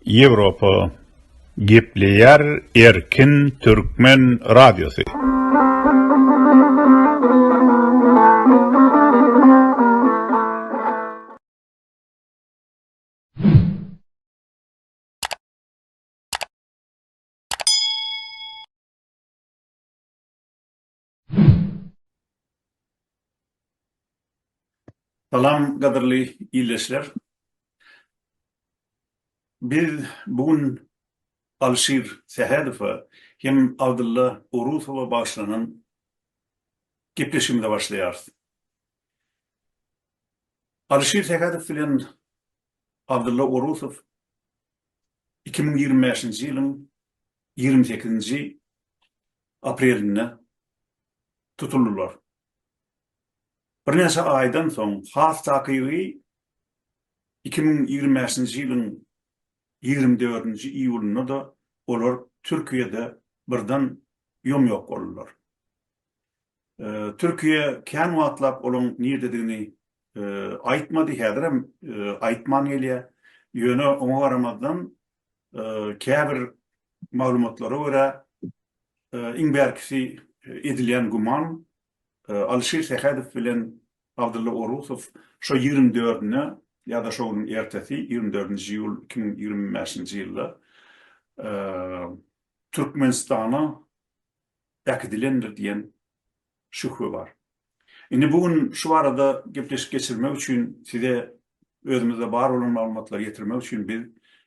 Ýewropa gepleýär erkin türkmen radiosy. Salam gadyrly ildeşler. Biz bu gün Alşir Sähedowa hem Abdylla Orusowa bagyşlanan gepleşigimize başlaýarys. Alşir Sähedow bilen Abdylla Orusow iki müň ýigrimi bäşinji ýylyň ýigrimi sekizinji aprelinde tutuldylar. Birnäçe aýdan soň, has takygy iki müň ýigrimi bäşinji ýylyň ýigrimi dördünji iýulynda-da olar Türkiýede birden ýom-ýok boldular. Türkiýe kän wagtlap olaryň nirdedigini aýtmady, häzirem aýtman gelýär. Ýöne oňa garamazdan, käbir maglumatlara görä, iň bärkisi edilýän güman, Alyşir Sähedow bilen Abdylla Orusow şu ýigrimi dördüne ýa-da şo günüň ertesi, ýigrimi dördünji iýul iki müň ýigrimi bäşinji ýylda Türkmenistana äkidilendir diýen şühbe bar. Indi bu gün şu barada gepleşik geçirmek üçin size özümizde bar bolan maglumatlary ýetirmek üçin biz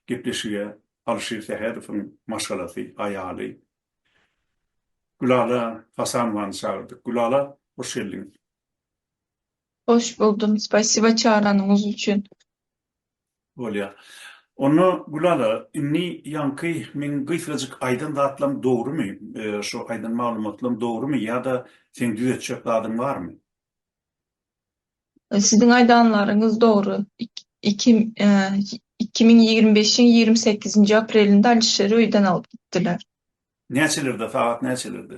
gepleşige Alyşir Sähedowyň maşgalasy, aýaly Gülala Hasanowany çagyrdyk. Gülala, hoş geldiňiz. Hoş buldum. Spasiba çagyranyňyz üçin. Bolýa. Onda Gülala indi ýaňky meň gysgajyk aýdan zatlam dogrymy, şo aýdan maglumatlam dogrymy ýa-da seň düzetjek zadyň barmy? Siziň aýdanlaryňyz dogry. Iki iki müň ýigrimi beşiň ýigrimi sekizinji aprelinde Alişeri öýden alyp gitdiler. Näçelerde, sagat näçelerde?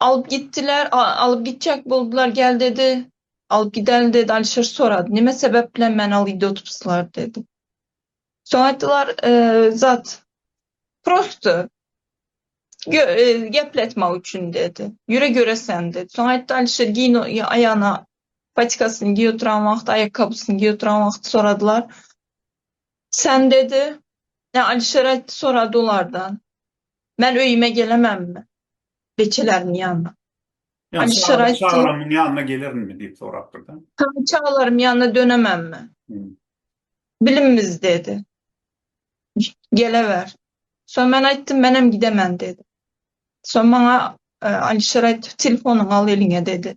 Alyp gitdiler, alyp gitjek boldular, gel dedi, alyp gideli dedi, Alişir sorady, neme sebep bilen meni alyp gidip oturypsylar dedi. Soň aýtdylar, zat, prosto, gepletmek üçin dedi, ýüre göreseň dedi. Soň aýtdy, Alişir giýin aýagyna patikasyny giýip oturan wagty, aýakgabysyny giýip oturan wagty soradylar, sen dedi, Alişir aýtdy, sorady olardan, Men öýüme gelemänmi? Beçeleriň ýanyna. Ýagny çagyryp çagalarymyň ýanyna gelerinmi diýip sorapdyr-da. Ýagny çagalaryň ýanyna dönemänmi? Bilimimiz diýdi. Geleber. Soň men aýtdym, menem gidemen diýdim. Soň maňa Alişer aýtdy, telefonyňy al eliňe diýdi.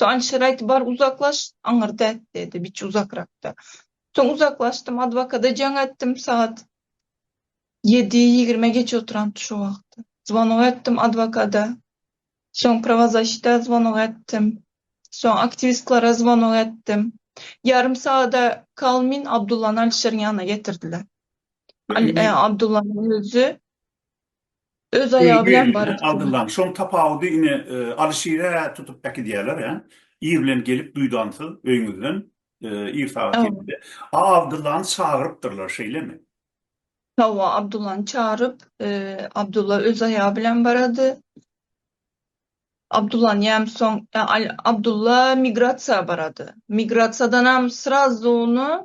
Jan şeraýty bar uzaklaş, aňyrda et, diýdi, biçi uzakrakda. Soň uzaklaşdym, adwokata jaň etdim, sagat ýedi ýigrime geçip oturandy şo wagt. Zwonok etdim adwokada, soň prawozaşita zwonok etdim, soň aktiwistklara zwonok etdim. Ýarym sagada kal min Abdullany Alişeriň ýanyna getirdiler. Al, e, Abdullanyň özi Öz aýagy bilen barypdyr. Aldyldan. Şoň tapawudy ine Alyşirä tutup äkidýäler ä. Ir bilen gelip duýdansyz öýüňizden ir sagat ýetide. A Abdyllany çagyrypdyrlar şeýlemi? Hawa Abdyllany çagyryp Abdylla öz aýagy bilen barady. Abdyllany ýäm soň Abdylla migrasiýa barady. Migrasiýadanam srazuny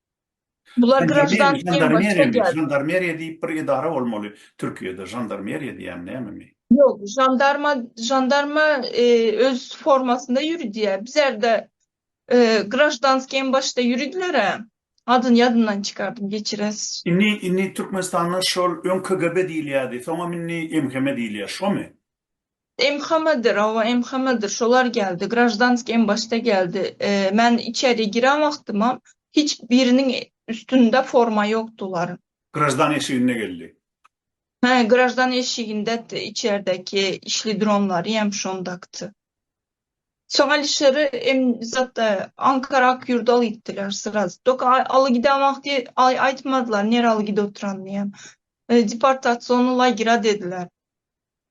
Bular graždanski Žandarmeriýami? Žandarmeriýa diýip bir edara bolmaly Türkiýede. Žandarmeriýa diýýän nämemi? Ýok, žandarma, žandarma öz formasynda ýüridiýär. Bizerde graždanski em başda ýüridiler-ä. Adyny ýadymdan çykardym, geçirersiz. Indi, indi Türkmenistanda şol öň KGB diýilýärdi, soňam indi MHM diýilýär, şomy? MHM-dir, owa, MHM-dir, şolar geldi, graždanskiý em başda geldi. Men içeri giren wagtymam hiç biriniň üstünde forma ýokdy olaryň. Graždan eşiginde geldi. Hä, graždan eşiginde içerdeki işli dronlary em şondakdy. Soň Alişeri em zatda Ankara Akýurda aly gitdiler sraz. Doka aly giden wagty aýtmadylar nere aly gidip oturanyny em. Deportaciony lagera dediler.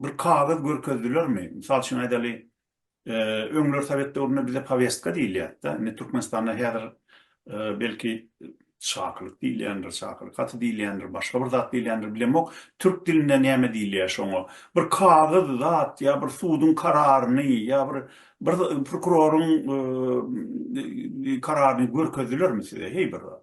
bir kagyz görkezdilermi? Mysal üçin aýdaly, öňler sowet döwründe bize powestka diýilýärdi-de, indi Türkmenistanda häzir belki çakylyk diýilýändir, çakylyk haty diýilýändir, başga bir zat diýilýändir, bilemok, türk dilinde näme diýilýär şoňa? Bir kagyz zat ýa bir suduň kararyny ýa bir bir prokuroryň kararyny görkezdilermi size heý bir zat?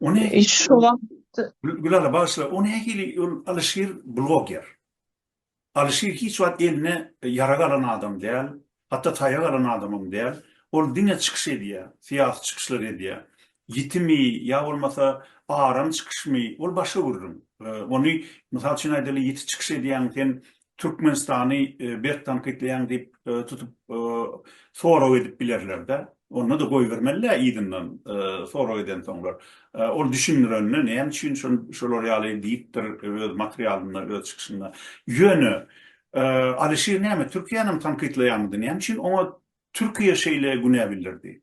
Ony şu wagt Gülala bagyşla, ony nähili ol Alyşir bloger. Alyşir hiç wagt eline ýarag alan adam däl, hatda taýak alan adamam däl. Ol diňe çykyş edýär, syýasy çykyşlar edýär. Ýitimi ýa bolmasa aram çykyşmy, ol başga gürrüň. Ony, mysal üçin aýdaly, ýiti çykyş edýäň, sen Türkmenistany berk tankytlaýaň diýip tutup sorag edip bilerlerde. Onda-da goýbermeli-dä yzyndan sorag edensoňlar. Ol düşündirende näme üçin şolar ýaly diýipdir öz materialynda, öz çykyşynda. Ýöne Alişir näme Türkiýänem tankytlaýarmydy? Näme üçin oňa Türkiýe şeýle günä bildirdi?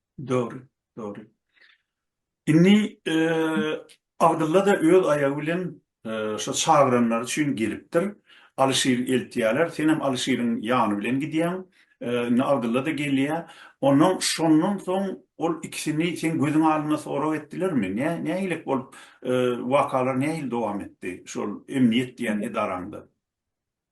Dogry, dogry. Indi Abdylla-da öz aýagy bilen şo çagyranlary üçin gelipdir. Alyşyry eltýärler, senem Alyşyryň ýany bilen gidýäň. Indi Abdylla-da gelýär. Ondan şondan soň ol ikisini seň gözüň alynda sorag etdilermi? Nä, nähilek bolup, wakalar nähili dowam etdi şol emniýet diýen edaraňda?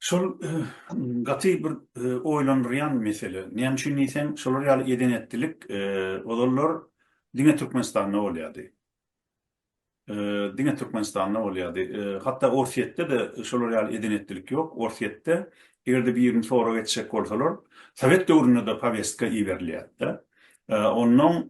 Şol gaty bir oýlandyrýan mesele. Näme üçin diýseň, şolar ýaly eden-etdilik ozallar diňe Türkmenistanda bolýardy. Diňe Türkmenistanda bolýardy. Hatda Orsýetde-de şolar ýaly eden-etdilik ýok. Orsýetde eger-de birini sorag etjek bolsalar, sowet döwründe-de powestka iberilýärdi-de. Onnoň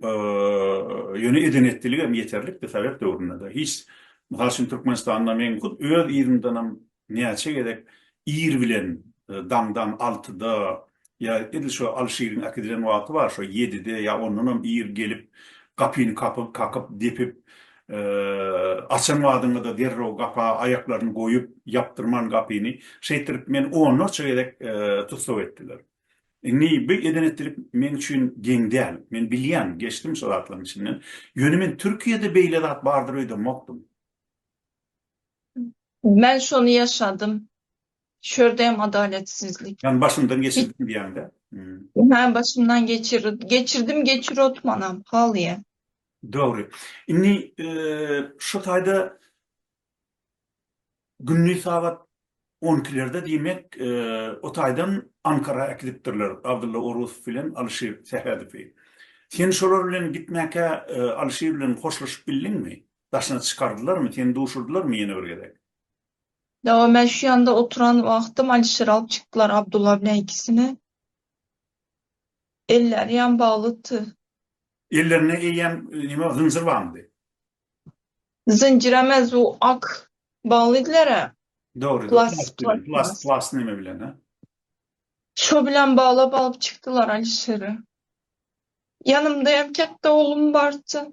ýöne eden-etdiligem ýeterlikdi sowet döwründe-de. Hiç, mysal üçin, Türkmenistanda men hut öz yzymdanam Näçe gezek ir bilen daňdan altyda ýa edil şo Alşiriň äkidilen wagty bar, şo ýedide ýa ondanam ir gelip, gapyny kapyp, kakyp, depip, açan badyňda-da derrew gapa aýaklaryny goýup, ýapdyrman gapyny, şeýtirip meni onlarça gezek tussag etdiler. Indi bu eden-etdilik meň üçin geň däl. Men bilýän, geçdim şo zatlaryň içinden. Ýöne men Türkiýede beýle zat bardyr öýdemokdym. Men şony ýaşadym. Şu ýerde hem adaletsizlik. Ýagny başymdan geçirdim diýýäňdä. Hä, başymdan geçirdim. Geçirdim, geçirotmanam, halyýa. Dogry. Indi şu taýda gündiz sagat on ikilerde diýmek, o taýdan Ankara äkidipdirler Abdylla Orusow bilen Alyşir Sähedowy. Sen şolar bilen gitmäkä Alyşir bilen hoşlaşyp bildiňmi? Daşyna çykardylarmy, seni duşurdylarmy ýene bir gezek? Dawa, men şu ýanda oturan wagtym Alişeri alyp çykdylar, Abdulla bilen ikisini. Elleri ýam baglydy. Ellerinde eýýäm nima, zynjyr barmydy? Zynjyr emes, bu ak baglydylar-a. Dogry, plas bilen, plas, plas neme bilen-a. Şo bilen baglap alyp çykdylar Alişeri. Ýanymda hem ketde oglum bardy.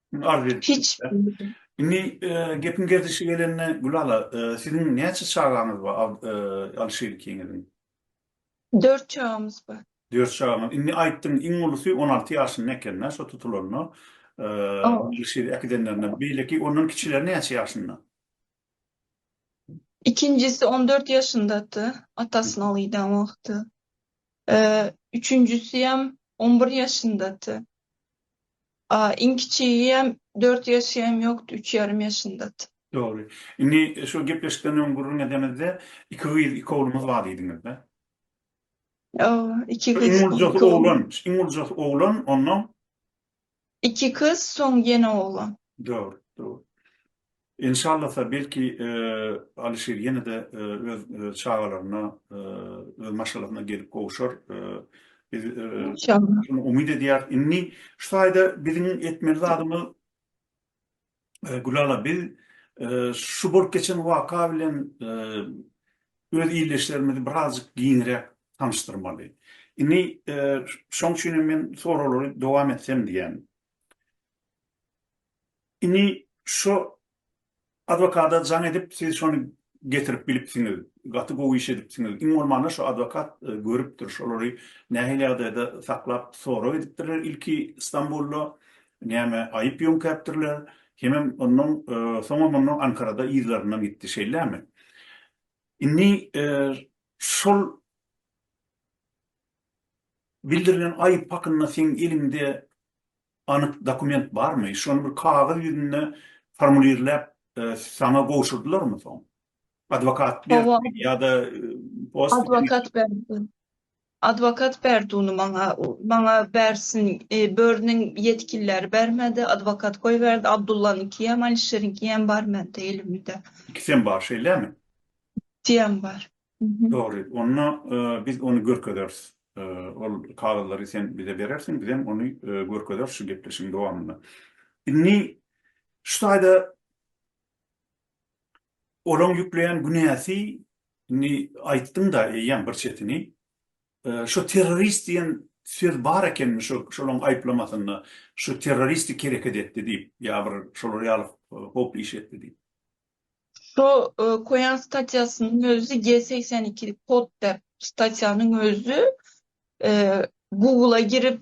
Hiç. Indi gepiň gerdişi gelende Gülala, siziň näçe çagaňyz bar Alyşir ikiňiziň? Dört çagamyz bar. Dört çagaňyz. Indi aýtdyň, iň ulusy on alty ýaşynda eken-dä şo tutulanda, Alyşiri äkidenlerinde. Beýleki ondan kiçileri näçe ýaşynda? Ikinjisi on dört ýaşyndady, atasyny al giden wagty. Üçünjisem on bir ýaşyndady. A iň kiçigem dört ýaşy hem ýokdy, üç ýarym ýaşyndady. Dogry. Indi şu gepleşikden öň gürrüň edemizde, iki gyz, iki oglumyz bar diýdiňizde? Ýa, iki gyz, iki oglan. Iň uljasy oglan, iň uljasy oglan, ondan Iki kyz soň ýene oglan. Dogry dogry. Enşallasa belki Alişir ýenede öz çagalaryna öz maşgalasyna gelip gowşar. Biz şuny umyt edýäris. Indi şu taýda biziň etmeli zadymyz Gülala biz şu bolup geçen waka bilen öz ildeşlerimizi birazjyk giňräk tanyşdyrmaly. Indi şoň üçin hem men soraglary dowam etsem diýýän. Indi şu adwokata jaň edip siz şony getirip bilipsiňiz. Gaty gowy iş edipsiňiz. Iň bolmanda şu adwokat görüpdir şolary nähili ýagdaýda saklap sorag edipdirler ilki Stambulda Näme, aýyp ýöňkäpdirler? Hemem ondan soňam onda Ankarada yzlaryndan gitdi, şeýlemi? Indi şol bildirilen aýyp hakynda seň eliňde anyk dokument barmy? Şony bir kagyz ýüzünde formulirläp saňa gowşurdylarmy soň? Adwokat beripmi ýa-da post? Adwokat beripdir. Adwokat berdi uny maňa. Maňa Bärsin börüniň ýetgilileri bermedi. Adwokat goýberdi. Abdullanyňkyýam, Alişeriňkiýem bar mende elimde. Ikisem bar şeýlemi? Ikisiyam bar. Dogry. Onda biz ony görkezeris. Ol kagyzlary sen bize berersiň, bizem ony görkezeris şu gepleşigiň dowamynda. Indi şu taýda Olaň ýükleýän günäsi ni aýtdyňda eýýäm bir çetini. Şo terrorist diýen söz bar ekenmi şo şolaň aýyplamasynda şo terroristik hereket etdi diýip ýa bir şolar ýaly howply iş etdi diýip. Şo koýan statýasynyň özi G segsen iki kod dep statýanyň özi Google-a girip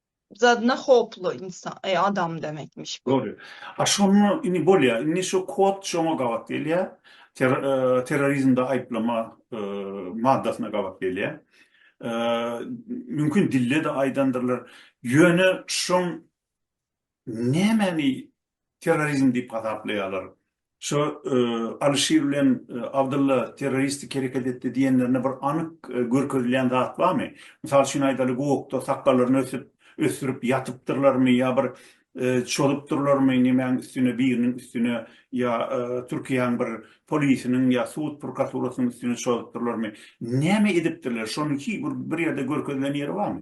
zadyna hoply insan e adam demekmiş bu. Dogry. A şonda indi bolýa. Indi şu kod şoňa gabat gelýä. Terrorizmde aýyplama maddasyna gabat gelýä. Mümkin dilde-de aýdandyrlar. Ýöne şoň nämäni terrorizm diýip hasaplaýarlar. Şo Alyşir bilen Abdylla terroristik hereket etdi diýenlerinde bir anyk görkezilýän zat barmy? Mysal üçin aýdaly gowakda sakgallaryny ösüp, ösdürip ýatypdyrlarmy ýa bir çozupdyrlarmy nemäň üstüne biriniň üstüne ýa Türkiýäň bir polisiniň ýa sud prokaturasynyň üstüne çozupdyrlarmy? Näme edipdirler? Şony hiç bir ýerde görkezilen ýeri barmy?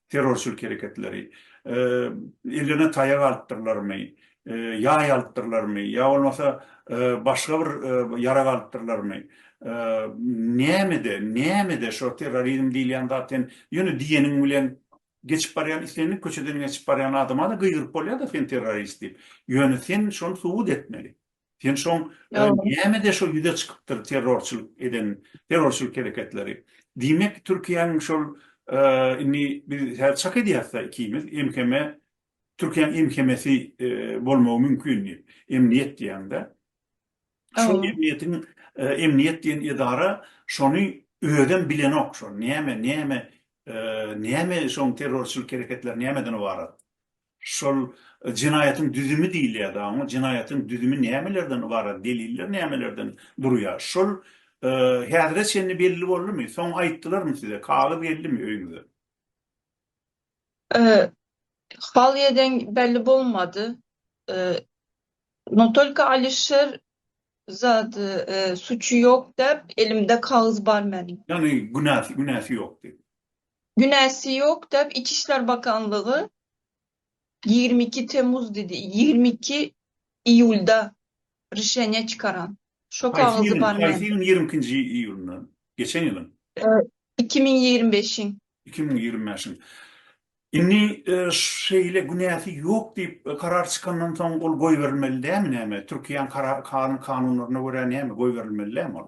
terrorçylyk hereketleri, eline taýak alypdyrlarmy, ýaý alypdyrlarmy ýa bolmasa başga bir ýarag alypdyrlarmy, nämede, nämede şo terrorizm diýilýän zat sen ýöne diýeniň bilen geçip barýan islendik köçeden geçip barýan adama-da gygyryp bolýar-da sen terrorist diýip. Ýöne sen şony subut etmeli. Sen şoň nämede şo ýüze çykypdyr terrorçylyk eden terrorçylyk hereketleri. Diýmek Türkiýäň şol indi biz häzir çak edýäsda ikimiz MHM Türkiýäň MHM-si bolmagy mümkin diýip. Emniýet diýäňde. Şo emniýetiň emniýet diýen edara şony özem bilenok şony. Näme näme näme şoň terrorçylyk hereketleri nämeden ybarat. Şol jenaýatyň düzümi diýilýär dagy oňa. Jenaýatyň düzümi nämelerden ybarat, deliller nämelerden durýar? Şol häzire çenli belli boldumy? Soň aýtdylarmy size? Kagyz geldimi öýüňize? Haliýe deň belli bolmady. No tolko Alişer zat suçy ýok däp, elimde kagyz bar meniň. Ýagny günäsi, günäsi ýok diýip. Günäsi ýok dep Içi işler bakanlygy ýigrimi iki temmuz didi ýigrimi iki iýulda rişeniýa çykaran. Şo Haýsy kagyzy ýylyň? bar Haýsy mende. ýylyň ýigrimi ikinji iýulynda? Geçen ýylyň? Iki müň ýigrimi beşiň. Iki müň ýigrimi bäşiň. Indi şeýle günäsi ýok diýip karar çykandan soň ol goýberilmeli dämi näme? Türkiýäň karar karan kanunlaryna görä näme goýberilmeli dämi ol?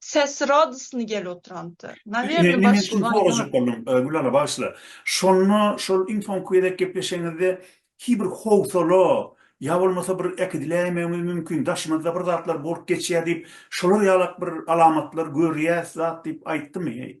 Sesi radosny gelip oturanty. Nawerno Indi men şuny sorajak boldum, Gülala bagyşla. Şonda şol iň soňky gezek gepleşeňizde hi bir howsala ýa bolmasa bir äkidiläýmegimiz mümkin, daşymyzda bir zatlar bolup geçýär diýip, şolar ýalak bir alamatlar görýäs zat diýip aýtdymy?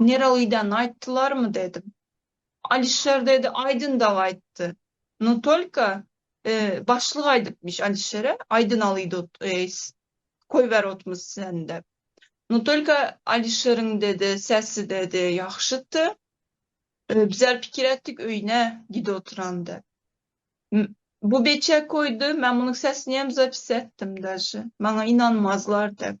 Nerelidan aýtdylarmy dedim. Alişer dedi Aýdyndag aýtdy. No tolko başlyk aýdypmyş Alişere Aýdyn alydut eýs koýberutmys sen dep. No tolko Alişeriň dedi sesi dedi ýagşydy. Bizar pikir etdik öýüne giduturan dep. Bu beçe koýdy men munuň sesiniýem zapis etdim daže. Maňa ynanmazlar dep.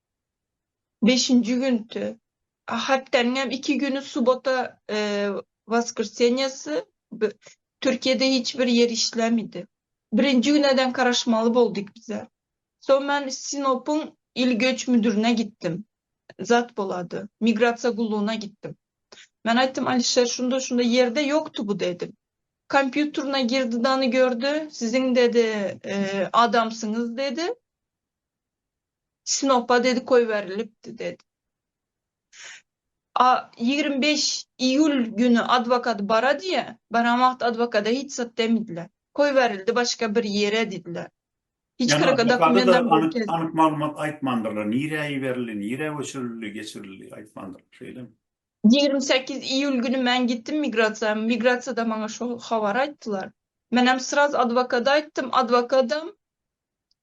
Beşinji güntü. Haptanyň hem iki güni subota woskrsenýasy Türkiýede hiç bir ýer işlämidi. Birinji güne deň garaşmaly boldyk bize. Soň men Sinopyň il göç müdürine gitdim. Zat bolady. Migrasiýa gullugyna gitdim. Men aýtdym Alişer şunda şunda ýerde ýokdy bu dedim. Kompýutruna girdi dany gördi. Siziň dedi adamsyňyz dedi. Sinopa dedi goýberilipdi dedi. A ýigrimi bäş iýul güni adwokady bara diýýä, baran wagty adwokada hiç zat demdiler. Goýberildi başga bir ýere diýdiler. Hiç Ýani kyrka adwokada-da dokumentam anyk, görkezmedi. anyk maglumat aýtmandyrlar, nirä iberildi, nirä göçürildi, geçirildi aýtmandyrlar, şeýlemi? Ýigrimi sekiz iýul güni men gitdim migrasiýa, migrasiýada maňa şo habary aýtdylar. Menem sraz adwokada aýtdym, adwokadam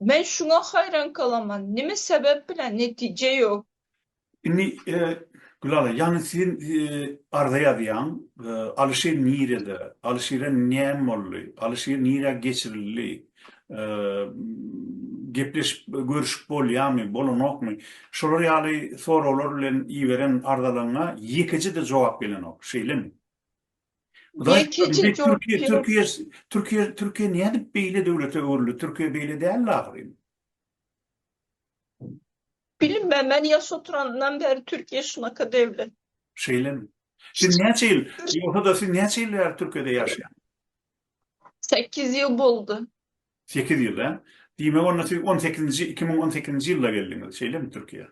Men şuňa haýran galaman, nime sebäp bilen netije ýok? Indi Gülala ýany sen arza ýazýaň, Alyşir nirede, Alyşire näme boldy, Alyşir nirä geçirildi, gepleşip görüşip bolýamy, bolanokmy, şolar ýaly soraglar bilen iberen arzalaryňa ýekeje-de jogap gelenok, şeýlemi? Türkiýe, Türkiýe, Türkiýe, Türkiýe nädip beýle döwlete öwrüldi? Türkiýe beýle däldi ahyryn. Bilmem, men ýaş oturandan bäri Türkiýe şunaka döwlet. Şeýlemi? Siz näçe ýyl, ýogsa-da siz näçe ýyl bäri Türkiýede ýaşaýan? Sekiz ýyl boldy. Sekiz ýyl, hä? Diýmek, onda siz on sekizinji, iki müň on sekizinji ýylda geldiňiz, şeýlemi Türkiýe?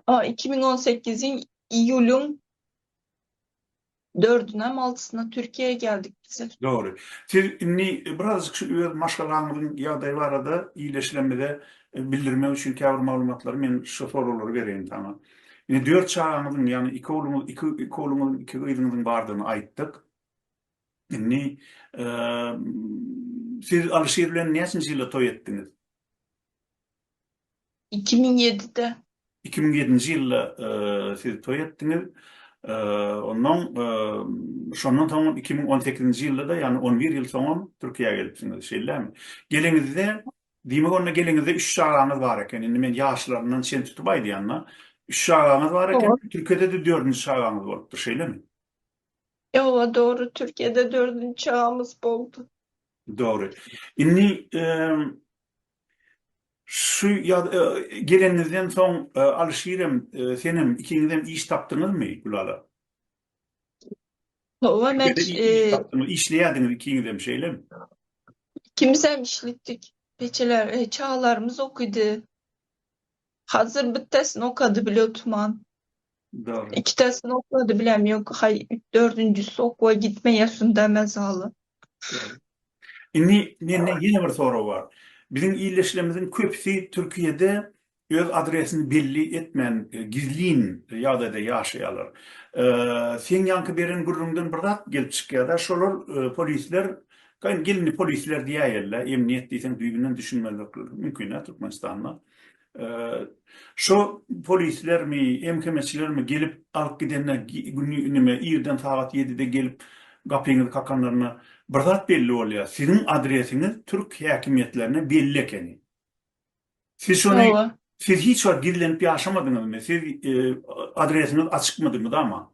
A, iki müň on sekiziň iýulyň Dördünem altysyna Türkiýä geldik biz. Dogry. Siz indi birazajyk şu öz maşgalaňyzyň ýagdaýy barada illeşilemize bildirmek üçin käbir maglumatlary men şu soraglary bereýin saňa. Indi dört çagaňyzyň, ýagny iki ogluňyz, iki iki ogluňyz, iki gyzyňyzyň bardygyny aýtdyk. Indi siz Alyşir bilen näçinji ýylda toý etdiňiz? Iki müň ýedide. Iki müň ýedinji ýylda siz toý etdiňiz. Onnoň şondan soň iki müň on sekizinji ýylda-da, ýagny on bir ýyl soňam Türkiýä gelipsiňiz, şeýlemi? Geleňizde, diýmek onda geleňizde üç çagaňyz bar eken. Indi men ýaşlaryndan çen tutup aýdýan-da, üç çagaňyz bar eken, Türkiýede-de dördünji çagaňyz bolupdyr, şeýlemi? Ýowa, dogry, Türkiýede dördünji çagamyz boldy. Dogry. Indi Şu ýaz geleniňizden soň Alyşirem, senem, ikiňizem iş tapdyňyzmy, Gülala? Hawa, men iş tapdyňyz, işleýärdiňiz ikiňizem, şeýlemi? Ikimizem işlitdik. Ejeler, çagalarymyz okydy. Hazir bittesini okady bile tuman. Dogry. Ikitesini okady bilem yok hay dördünjüsi okuwa gitmeyesin demez hala. Indi mende ýene bir sorag bar. Biziň ildeşlerimiziň köpüsi Türkiýede öz adresini belli etmän gizlin ýagdaýda ýaşaýarlar. Seň ýaňky beren gürrüňden bir zat gelip çykýarda şolar polisler Gaýyn gelini polisler diýäýerler, emniýet diýseň düýbünden düşünmezlikleri mümkin-ä Türkmenistanda. Şo polislermi, MHM-çilermi gelip alyp gidende nime irden sagat ýedide gelip gapyňyzy kakanlarynda bir zat belli bolýar, siziň adresiňiz türk häkimiýetlerine belli ekeni. Siz şony siz hiç wagt gizlenip ýaşamadyňyzmy? Siz adresiňiz açykmydy mydama?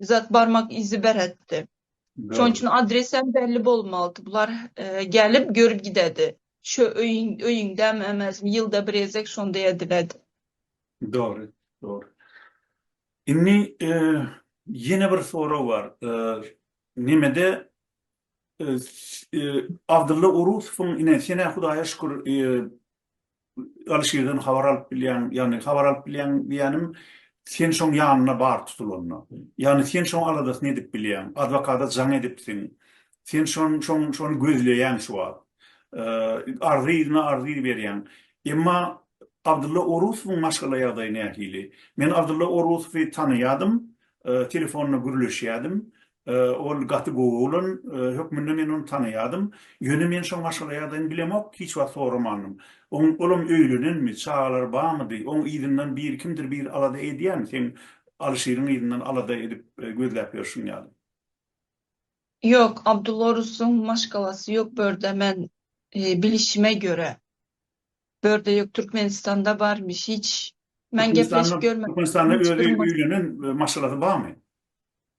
Zat barmak izi beretdi. Şoň üçin adresem belli bolmalydy. Bular gelip görüp gidedi. Şu öýüň öýüňdämi emesmi ýylda bir gezek şonda ediledi. Dogry, dogry. Indi ýene bir sorag bar. Nemede Abdylla Orusowyň ine senä Hudaýa şükür Alişirden habar alyp bilýäň, ýagny habar alyp bilýäň diýýänim, sen şoň ýanyna bar tutulanda. Ýagny sen şoň aladasyny edip bilýäň, adwokata jaň edipsiň, sen şon, şoň, şony gözleýäň şu wagt. Arzy yzyna arzy berýäň. Emma Abdylla Orusowyň maşgala ýagdaýy nähili? Men Abdylla Orusowy tanaýadym, telefonda gürleşýädim. Ol gaty gowy oglan hökmünde men ony tanaýardym. Ýöne men şo maşgala ýagdaýyny bilemok, hiç wagt soramandym. Olam öýlenenmi, çagalary barmydy, oň yzyndan biri kimdir biri alada edýärmi, seň Alyşiriň yzyndan alada edip gözläp ýörşüň ýaly? Ýok, Abdulla Orusyň maşgalasy ýok börde men bilişime göre. Börde ýok, Türkmenistanda barmyş, hiç men gepleşip görmedim. Türkmenistanda özi öýlenen maşgalasy barmy?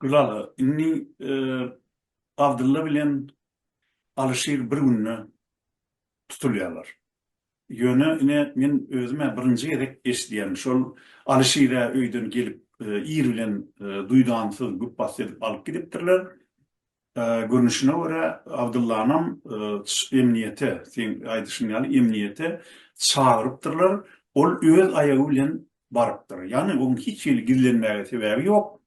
Gülala, indi Abdylla bilen Alyşir bir günde tutulýarlar. Ýöne ine, men özüm-ä birinji gezek eşidýän, şol Alyşir-ä öýden gelip, ir bilen duýdansyz güpbasdy edip alyp gidipdirler. Görnüşine görä Abdyllanam emniýete, seň aýdyşyň ýaly emniýete çagyrypdyrlar, ol öz aýagy bilen barypdyr. Ýagny oň hiç hili gizlenmäge sebäbi ýok.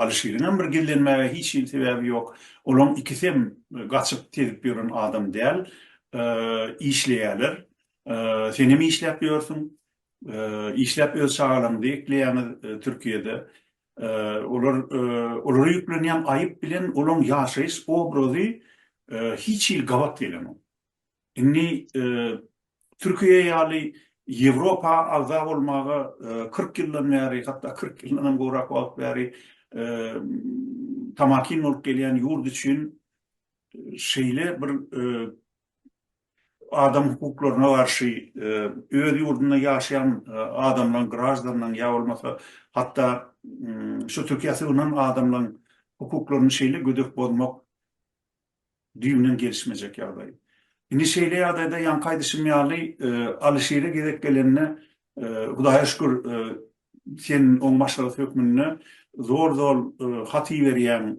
Alyşiriňem bir gizlenmäge hiç hili sebäbi ýok. Olaň ikisem gaçyp tezip ýören adam däl. Işleýäler. Senem işläp ýörsüň. Işläp öz çagalaryňyzy ekleýäňiz Türkiýede. Olar olara ýüklenýän aýyp bilen olaň ýaşaýyş obrazy hiç hili gabat gelenok. Indi Türkiýe ýaly Ýewropa agza bolmaga kyrk ýyldan bäri, hatda kyrk ýyldan hem gowrak wagt bäri tamakin bolup gelýän ýurt üçin şeýle bir adam hukuklaryna garşy öz ýurdunda ýaşaýan adamlaryň, graždanlaryň ýa bolmasa hatda şu Türkiýä sygynan adamlaryň hukuklaryny şeýle gödek bozmak düýbünden gelişmejek ýagdaý. Indi şeýle ýagdaýda ýaňky aýdyşym ýaly Alyşire gezek gelende Hudaýa şükür sen oň maslahat hökmünde zol-zol hat iberýäň,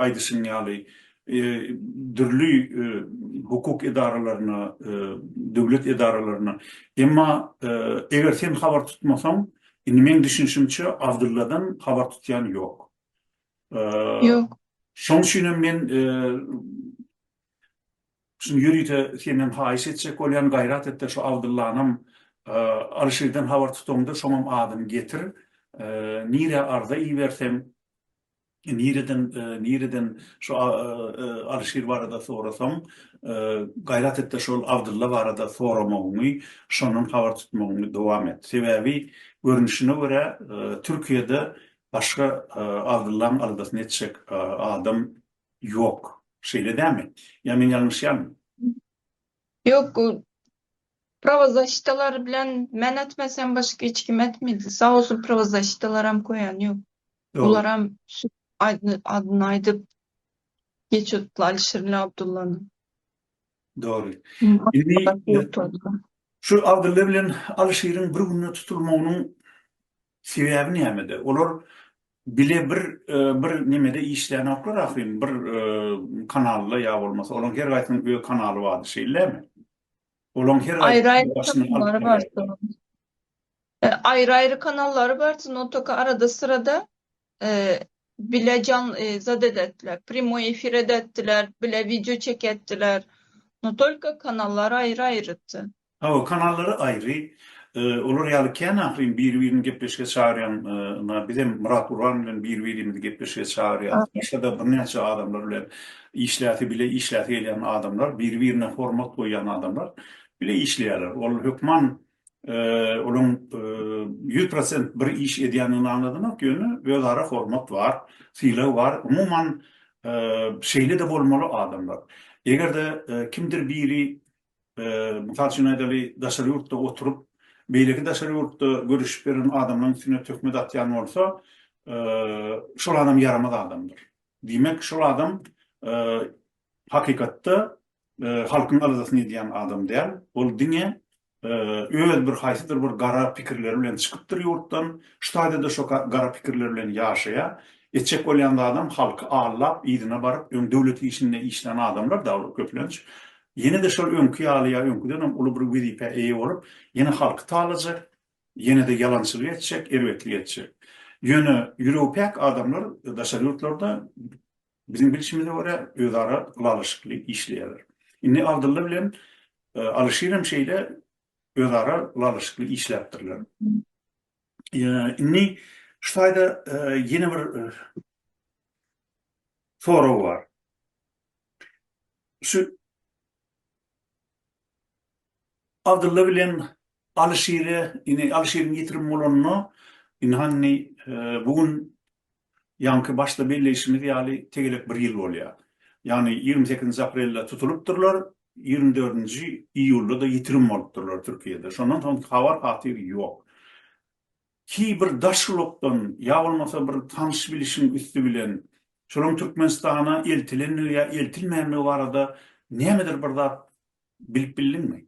aýdyşym ýaly, dürli hukuk edaralaryna, döwlet edaralaryna. Emma eger sen habar tutmasaň, indi meň düşünişimçe Abdylladan habar tutýan ýok. Ýok. Şoň üçin hem men şuny ýörite senden haýyş etjek bolýan, gaýrat et-de şu Abdyllanam Alyşirden habar tutaňda şoňam adyny getir. Nirä arza iberseň, Nireden nireden şu Alyşir barada sorasaň, gaýrat etde şol Abdylla barada soramagyňy, şondan habar tutmagyňy dowam et. Sebäbi görnüşine görä Türkiýede başga Abdyllaň aldasyny etjek adam ýok. Şeýle dämi? Ýa men ýalňyşýarmyn? Ýok prowazaşitalar bilen men etmesem başga hiç kim etmedi sag bolsun prowazaşitalaram koýan ýok olaram adyny aýdyp geçyotla Alişirle Abdullanyň. Dogry. Şu Abdylla bilen Alyşiriň bir günde tutulmagynyň Sebäbi nämede? Olar bile bir bir nemede işlänoklar ahyryn, bir kanalda ýa bolmasa, olaň her gaýsynyň öz kanaly bardy, şeýlemi? Olaň her gaýsynyň aýry-aýry kanallary bar, notaka arada-syrada bile jan zat edetdiler primoý efir edetdiler bile wideo çekeddiler no tolko kanallar aýry aýrydy. Hawa kanallary aýry olar ýaly kän ahyryn biri birini gepleşige çagyrýan na bizem Myrat Gurban bilen biri birimizi gepleşige çagyrýas başgada birnäçe adamlar bilen işläsi bile işläsi gelýän adamlar biri birine hormat goýýan adamlar bile işleýärler ol hökman Olaň ýüz prosent bir iş edýändigini aňladymok, ýöne özara hormat bar, sylag bar. Umuman, şeýle-de bolmaly adamlar. Eger-de kimdir biri, mysal üçin aýdaly, daşary ýurtda oturyp, beýleki daşary ýurtda görüşip beren adamlaryň üstüne töhmet atýan bolsa, şol adam ýaramaz adamdyr. Diýmek, şol adam Hakykatda halkyň arzasyny edýän adam däl, ol diňe öz bir haýsydyr bir gara pikirleri bilen çykypdyr ýurtdan, şu taýda-da şo gara pikirler bilen ýaşaýar, etjek bolýan zadam halky aldap, yzyna baryp, öň döwlet işinde işlän adamlar-da olar köplenç, ýene-de şol öňki ýaly ýa öňküden hem uly bir wezipä eýe bolup, ýene halky talajak, ýene-de ýalançylyk etjek, erbetlik etjek. Ýöne ýüregi päk adamlar daşary ýurtlarda Biziň bilşimize görä özara ylalaşykly işleýärler. Indi Abdylla bilen Alyşir hem şeýle özara ylalaşykly işläpdirler. Indi şu taýda ýene bir sorag bar. Şu Abdylla bilen Alyşire indi Alyşiriň ýitirim bolanyna indi hany bu gün ýaňky başda belleýşimiz ýaly tegelek bir ýyl bolýar. Ýagny ýigrimi sekizinji aprelde tutulypdyrlar, ýigrimi dördünji iýulda-da ýitirim bolupdyrlar Türkiýede. Şondan soň habar hatyr ýok. Ki bir daş ulukdan ýa bolmasa bir tanyş bilişiň üsti bilen şolaryň Türkmenistana eltilendigi ýa eltilmändigi barada nämedir bir zat bilip bildiňmi?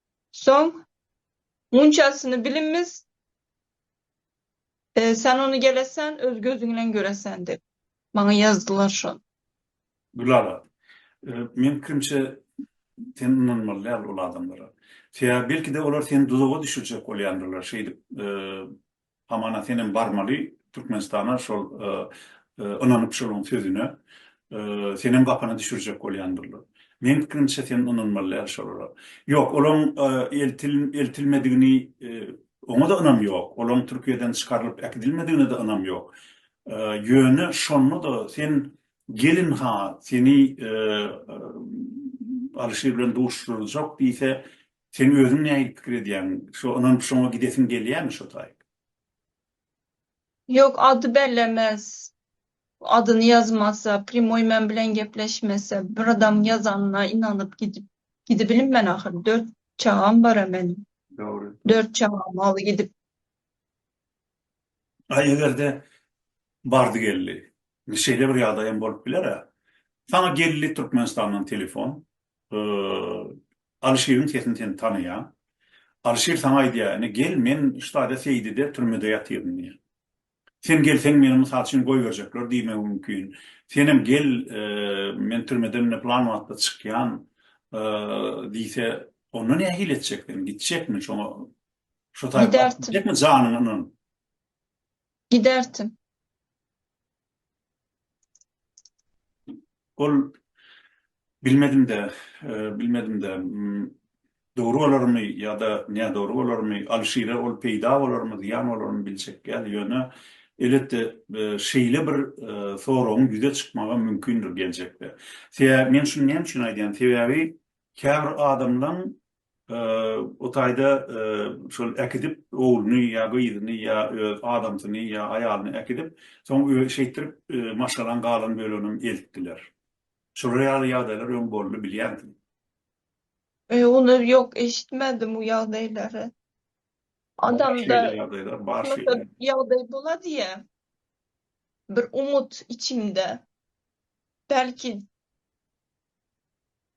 Soň munçasyny bilimmiz, sen ony gelesan öz gözüň bilen göresan dep maňa ýazdylar şony. Gülala, meň pikirimçe sen ynanmaly däl ol adamlara. Sebäbi belki-de olar seni duzaga düşürjek bolýandyrlar şeýdip Hamana senem barmaly Türkmenistana şol ynanyp şoluň sözüne senem gapana düşürjek bolýandyrlar. Meň pikirimçe sen ynanmaly däl şolara. Ýok olaň eltil eltilmedigini oňada ynam ýok. Olaň Türkiýeden çykarylyp äkidilmedigine-de ynam ýok. Ýöne şonda-da sen gelin ha seni Alyşir bilen duşuşdyrjak diýse Sen özüň nähili pikir edýäň? Şo ynanyp şoňa gidesiň gelýämi şo taýyp? Ýok ady bellemez adyny ýazmasa primoý men bilen gepleşmese bir adam ýazanyna ynanyp gidip gidibilim men ahyry dört çagam bara meniň Dogry. dört çagamy aly gidip. A egerde bardy geldi. Şeýle bir ýagdaýam bolup bilerä. Saňa geldi Türkmenistandan telefon. Alyşiriň sesini sen tanaýaň. Alyşir saňa aýdýar, Ine, gel, men Ştade Seýdide türmede ýatyryn diýýär. Sen gelseň, meni, mysal üçin, goýberjekler diýmegi mümkin. Senem gel, men türmeden ine pylan wagtda çykýan diýse, onda nähili etjek sen? Gitjekmi şoňa? Şo taýpa gitjekmi janyňy ynanyp? Giderdim. Ol, Bilmedim-dä, bilmedim-dä. Dogry bolarmy ýa-da nädogry bolarmy, Alyşire ol peýda bolarmy, zyýan bolarmy biljek däl. Ýöne, elbetde, şeýle bir soragyň ýüze çykmagy mümkindir geljekde. Sebäbi, men şuny näme üçin aýdýan, sebäbi käbir adamlaň O taýda şol äkidip, ogluny ýa gyzyny ýa öz adamsyny ýa aýalyny äkidip, soň şeýtdirip maşgalaň galan böleginem eltdiler. Şular ýaly ýagdaýlar öň boldy, bilýänsiň. Öý, ony ýok, eşitmedim bu ýagdaýlary. Adamda ýagdaý bola diýä, bir umut içinde, belki.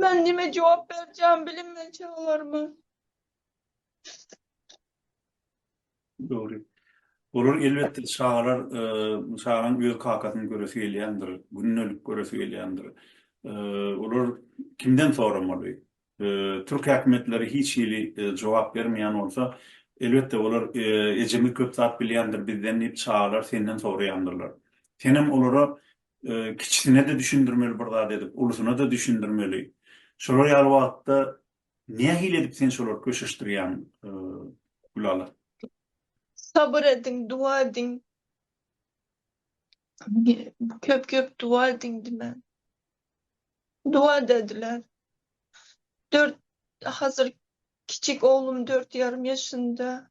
Men nime jogap berjämi bilinmän çagalaryma. Dogry. Olar elbetde çagalar çaganyň öz kakasyny göresi gelýändir, gündelik göresi gelýändir. Olar kimden soramaly? Türk häkimiýetleri hiç hili jogap bermeýän bolsa, elbetde olar ejemiz köp zat bilýändir bizden diýip çagalar senden soraýandyrlar. Senem olara Kiçisine-de düşündirmeli bir zat edip, ulusyna-da düşündirmeli. Şolar ýaly wagtda nähili edip sen şolary köşeşdirýäň, Gülala? Sabyr ediň, duwa ediň. Köp-köp duwa ediň diýmän. Duwa-da ediler. Dört, hazir kiçik oglum dört ýarym ýaşynda.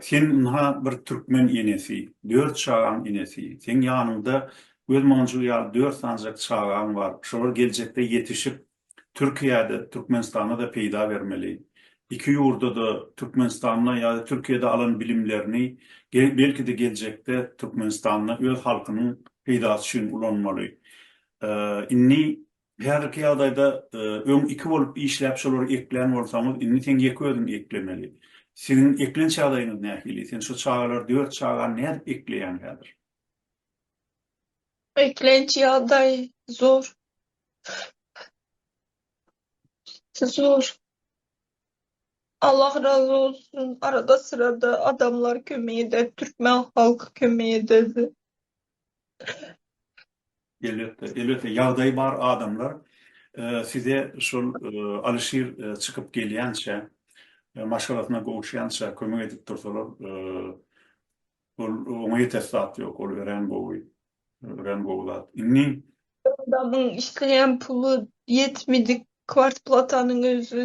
Sen ynha bir türkmen enesi, dört çagaň enesi. Seň ýanyňda gözmonjul ýaly dört sanjak çagaň bar. Şolar geljekde ýetişip Türkiýede, Türkmenistanda-da peýda bermeli. Iki ýurda-da, Türkmenistanda ýa-da Türkiýede alan bilimlerini belki-de geljekde Türkmenistanda öz halkynyň peýdasy üçin ulanmaly. Indi Häzirki ýagdaýda öň iki bolup işläp şolary eklän bolsaňyz indi seň ýeke özüň eklemeli. Siziň eklenç ýagdaýyňyz nähili? Sen şu çagalary dört çagany nädip ekleýäň häzir? Eklenç ýagdaý zor. Zor. Allah razy bolsun arada syrada adamlar kömek eder türkmen halky kömek ederdi. Elbetde, elbetde ýagdaýy bar adamlar size şol Alyşir çykyp gelýänçä, maşgalasyna gowuşýança kömek edip dursalar, ol oňa ýetersi zat ýok, ol örän gowy, örän gowy zat. Indi adamyň işleýän puly ýetmedik kwartplatanyň özi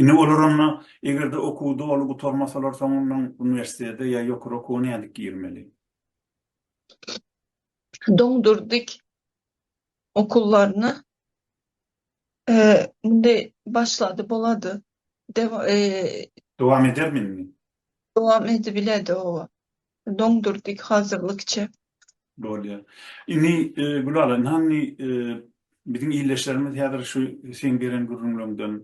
Indi olar onda, eger-de okuwy doly gutarmasalar, soňundan uniwersitete ýa ýokary okuwa nädip girmeli? Doňdurdik okuwlaryna indi başlady bolady. Dowam edermi indi? Dowam edibiledi, oba. Doňdurdyk hazyrlykça. Bolýa. Indi Gülala hany biziň ildeşlerimiz häzir şu seň beren gürrüňleriňden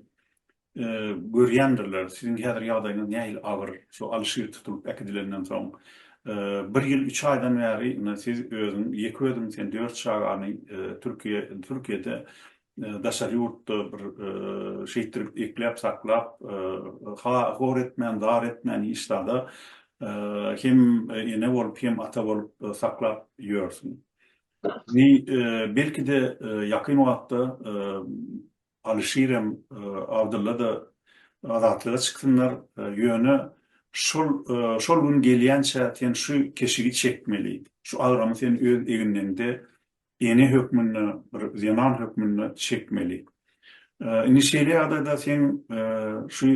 görýändirler. Siziň häzir ýagdaýyňyz nähili agyr, şu Alyşir tutulyp äkidilenden soň. Bir ýyl üç aýdan bäri indi siz özüň ýeke özüň sen dört çagany Türkiýe Türkiýede daşary ýurtda bir şeýtdirip ekläp saklap ha hor etmän zar etmän hiç zada hem ene bolup hem ata bolup saklap ýörsüň. Ni belkide ýakyn wagtda Alyşirem Abdyllada azatlyga çyksynlar ýöne şol şol gün gelýänçä sen şu keşigi çekmeli şu agramy sen öz eginleňde ene hökmünde bir zenan hökmünde çekmeli. Indi şeýle ýagdaýda seň şu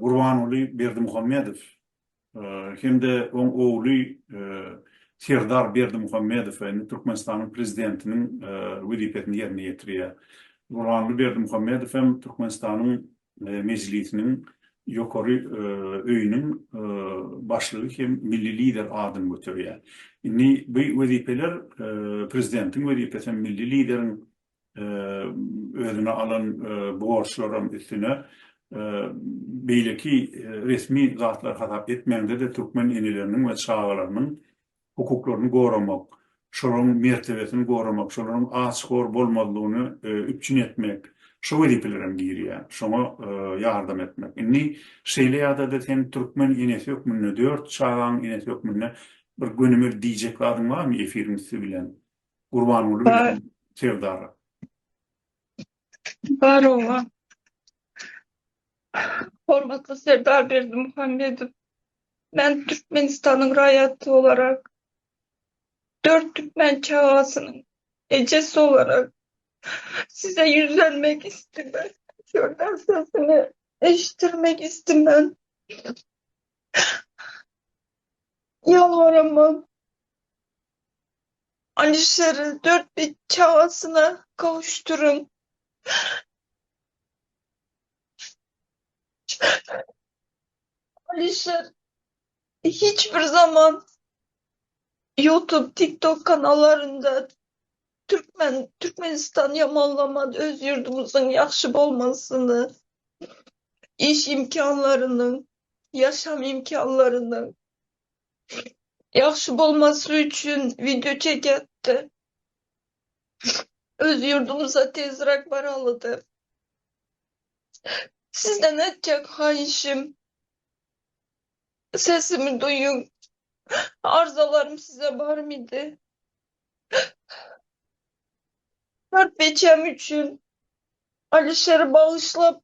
Gurbanguly Berdimuhamedow hem-de oň ogly Serdar Berdimuhamedow indi Türkmenistanyň prezidentiniň wezipesini ýerine ýetirýär. Gurbanguly Berdimuhamedow hem Türkmenistanyň Mejlisiniň ýokary öýüniň başlygy hem milli Lider adyny göterýär. Indi bu wezipeler Prezidentiň wezipesi hem milli Lideriň özüne alan borçlaram üstüne beýleki resmi zatlar hasap etmäňde-de türkmen eneleriniň we çagalarynyň hukuklaryny goramak, şolaryň mertebesini goramak, şolaryň aç-hor bolmazlygyny üpjün etmek, şo wezipeler hem girýär, şoňa ýardam etmek. Indi şeýle ýagdaýda sen türkmen enesi hökmünde, dört çagaň enesi hökmünde bir gönümel diýjek zadyň barmy efiriň üsti bilen Gurbanguly bilen Serdara? Barowa. Hormatly Serdar Berdimuhamedow, men Türkmenistanyň raýaty bolarak, dört türkmen çagasynyň ejesi bolarak Size ýüzlenmek isleýän. Şonda sesiňi eşitdirmek isleýän. Ýalbaramok. Alişeri dört bit çagasyna gowuşdyryn. Alişer hiç bir zaman YouTube, TikTok kanallarynda Türkmen, Türkmenistan ýamanlaman öz ýurdumyzyň ýagşy bolmasyny, iş imkanlarynyň, ýaşam imkanlarynyň Ýagşy bolmasy üçin wideo çekýärdi. Öz ýurdumyza tezräk baralydy. Sizden etjek haýyşym sesimi duýuň. Arzalarym size barmydy? Körpejem üçin Alişeri bagyşlap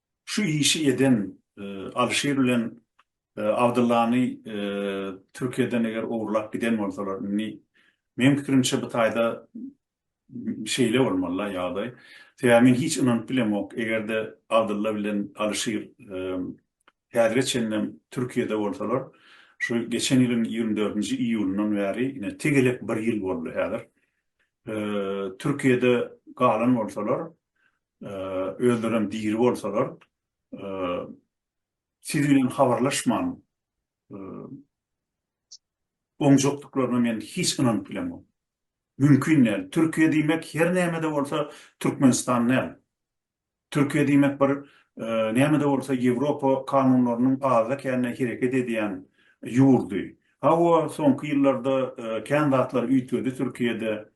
Şu işi eden Alişir bilen Abdyllany Türkiýeden eger ogurlap giden bolsalar, indi meň pikirimçe bu taýda şeýle bolmaly-la ýagdaý. Sebäbi men hiç ynanyp bilemok, eger-de Abdylla bilen Alişir häzire çenlem Türkiýede bolsalar, şu geçen ýylyň ýigrimi dördünji iýulyndan bäri, ine, tegelek bir ýyl boldy häzir, Türkiýede galan bolsalar, Özlerem diri bolsalar, siz bilen habarlaşman oňjakdyklaryna men hiç ynanyp bilemok. Mümkin däl. Türkiýe diýmek her näme-de bolsa Türkmenistan däl. Türkiýe diýmek bir näme-de bolsa Ýewropa kanunlarynyň azda-kände hereket edýän ýurdy. Hawa, soňky ýyllarda kän zatlar üýtgedi Türkiýede.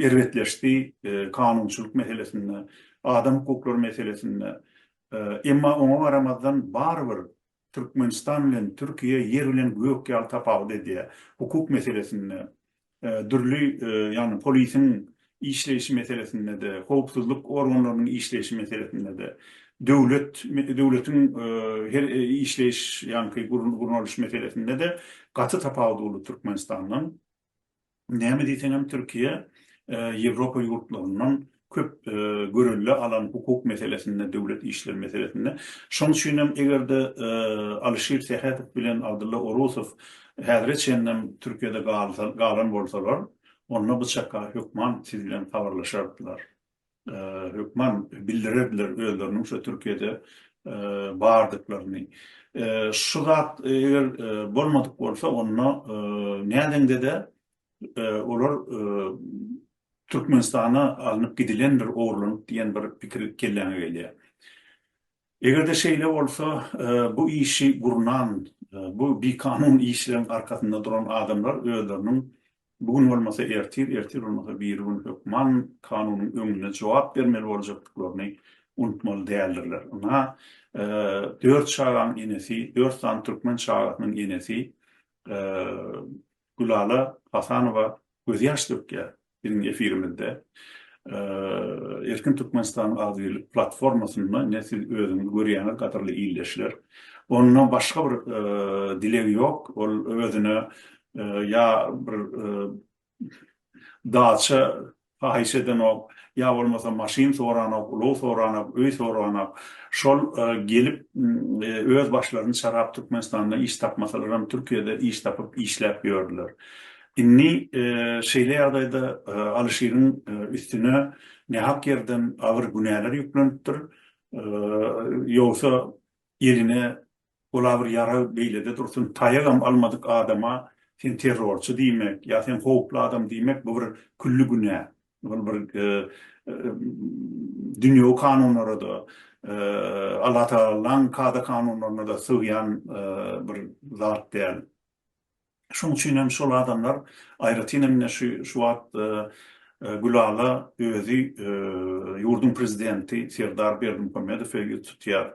erbetleşdi, kanunçylyk meselesinde, adam hukuklary meselesinde. Emma oňa garamazdan barybir Türkmenistan bilen Türkiýe ýer bilen gök ýaly tapawut edýär. Hukuk meselesinde, dürli, ýagny polisiň işleýşi meselesinde-de, howpsuzlyk organlarynyň işleýşi meselesinde-de, döwlet, döwletiň her işleýiş, ýagny gurnalyş meselesinde-de gaty tapawudy boldy Türkmenistandan. Näme diýseňem Türkiýe Ýewropa ýurtlaryndan köp görelde alan hukuk meselesinde, döwlet işleri meselesinde. Şonuň üçin hem eger-de Alyşir Sähedow bilen Abdylla Orusow häzire çenlem Türkiýede galan bolsalar, onda bu çakar hökman siz bilen habarlaşardylar. hökman bildirerdiler özleriniň şu Türkiýede bardyklaryny. Şu zat eger bolmadyk bolsa, onda nädeňde-de olar Türkmenistana alnyp gidilendir, ogurlanyp diýen bir pikir kelläňe gelýär. Eger-de şeýle bolsa, bu işi gurnan, bu bikanun işleriň arkasynda duran adamlar özleriniň bu gün bolmasa ertir, ertir bolmasa birigün hökman kanunyň öňünde jogap bermeli boljakdyklaryny unutmaly däldirler. Ynha, dört çagaň enesi, dört sany türkmen çagasynyň enesi Gülala Hasanowa gözýaş dökýär biziň efirimizde. Erkin Türkmenistanyň agzybirlik platformasynda ine siz özüňiz görýäňiz gadyrly ildeşler. Onda başga bir dileg ýok, ol özüne ýa bir daça Pahyş edenok, ýa bolmasa maşyn soranok, ulag soranok, öý soranok. Şol gelip öz başlaryny çarap Türkmenistanda iş tapmasalaram Türkiýede iş tapyp işläp ýördüler. Indi şeýle ýagdaýda Alyşiriň üstüne nähak ýerden agyr günäler ýüklenipdir. Ýogsa eline Ol-a bir ýarag beýlede dursun, taýagam almadyk adama sen terrorçy diýmek, ýa sen howply adam diýmek bu bir külli günä. Ol bir dünýewi kanunlara-da, Allatagalaň kada-kanunlaryna-da sygýan bir zat däl. Şonuň üçin hem şol adamlar, aýratyn hem ine şu wagt Gülala özi ýurduň prezidenti Serdar Berdimuhamedowe ýüz tutýar,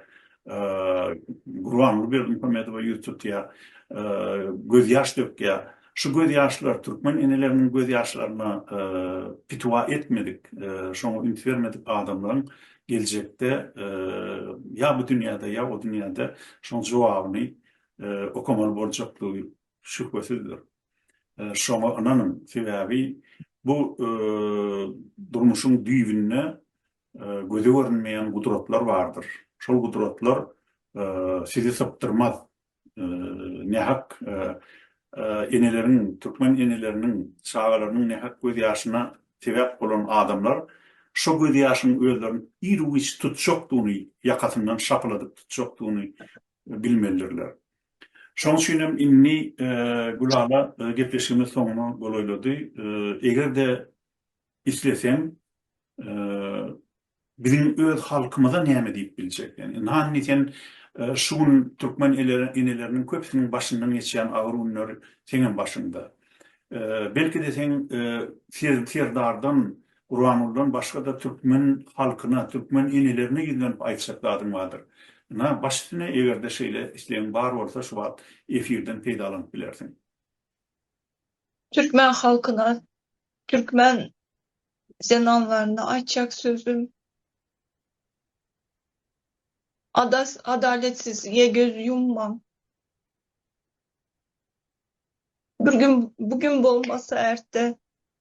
Gurbanguly Berdimuhamedowa ýüz tutýar, gözýaş dökýär. Şu gözýaşlar türkmen eneleriniň gözýaşlaryna pitiwa etmedik, şoňa üns bermedik adamlaryň geljekde ýa bu dünýäde, ýa o dünýäde şoň jogabyny okamaly boljakdygy şübhesizdir. Şoňa ynanyň, sebäbi bu durmuşyň düýbünde göze görünmeýän gudratlar bardyr. Şol gudratlar sizi sypdyrmaz. Nähak eneleriň, türkmen eneleriniň çagalarynyň nähak göz ýaşyna sebäp bolan adamlar şo göz ýaşyň özlerini ir-u-giç tutjakdygyny, ýakasyndan şapyladyp tutjakdygyny bilmelidirler. Şonuň üçin hem indi Gülala gepleşigimiz soňuna golaýlady. Eger-de isleseň, biziň öz halkymyza näme diýip biljek? Ýani, ynha indi sen şu gün türkmen eneleriniň köpüsiniň başyndan geçýän agyr günler seňem başyňda. Belki-de seň Serdardan Gurbangulydan başga-da türkmen halkyna, türkmen enelerine ýüzlenip aýtjak zadyň bardyr. Ynha, baş üstüne, eger-de şeýle islegiň bar bolsa, şu wagt efirden peýdalanyp bilersiň. Türkmen halkyna, türkmen zenanlaryna aýtjak sözüm, Adas, adaletsizlige göz ýummaň. Bir gün, bu gün bolmasa, erte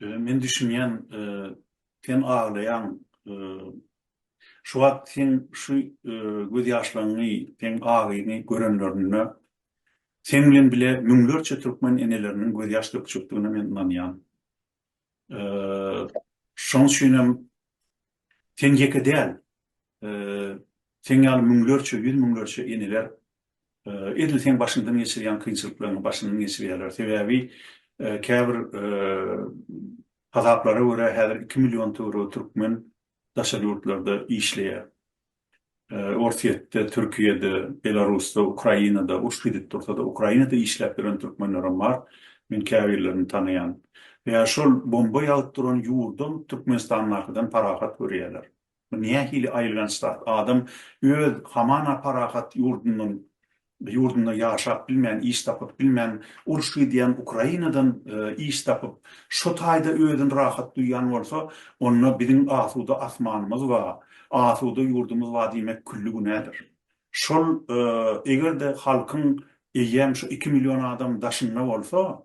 Men düşünýän, sen aglaýaň. Şu wagt seň şu gözýaşlaňňy, seň agyňy görenlerinde seň bilen bile müňlerçe türkmen eneleriniň gözýaş dökjekdigine men ynanýan. Şoň üçinem sen ýeke däl, seň ýaly müňlerçe, ýüz müňlerçe eneler Edil seň başyňdan geçirýän kynçylyklaryňy başyndan geçirýärler. Sebäbi käbir hasaplara görä häzir iki million töweregi türkmen daşary ýurtlarda işleýär. Orsýetde, Türkiýede, Belarusda, Ukrainada, uruş gidip dursa-da Ukrainada işläp ýören türkmenlerem bar. Men käbirlerini tanaýan. Ýa şol bomba ýagyp duran ýurdam Türkmenistandakydan parahat görýärler. Bu nähili aýylganç zat, adam öz hamana parahat ýurdundan, ýurdunda ýaşap bilmän, iş tapyp bilmän, uruş gidýän Ukrainadan iş tapyp, şo taýda özüni rahat duýýan bolsa, onda biziň asuda asmanymyz ba, asuda ýurdumyz ba diýmek külli günädir. Şol eger-de halkyň eýýäm şu iki million adam daşynda bolsa,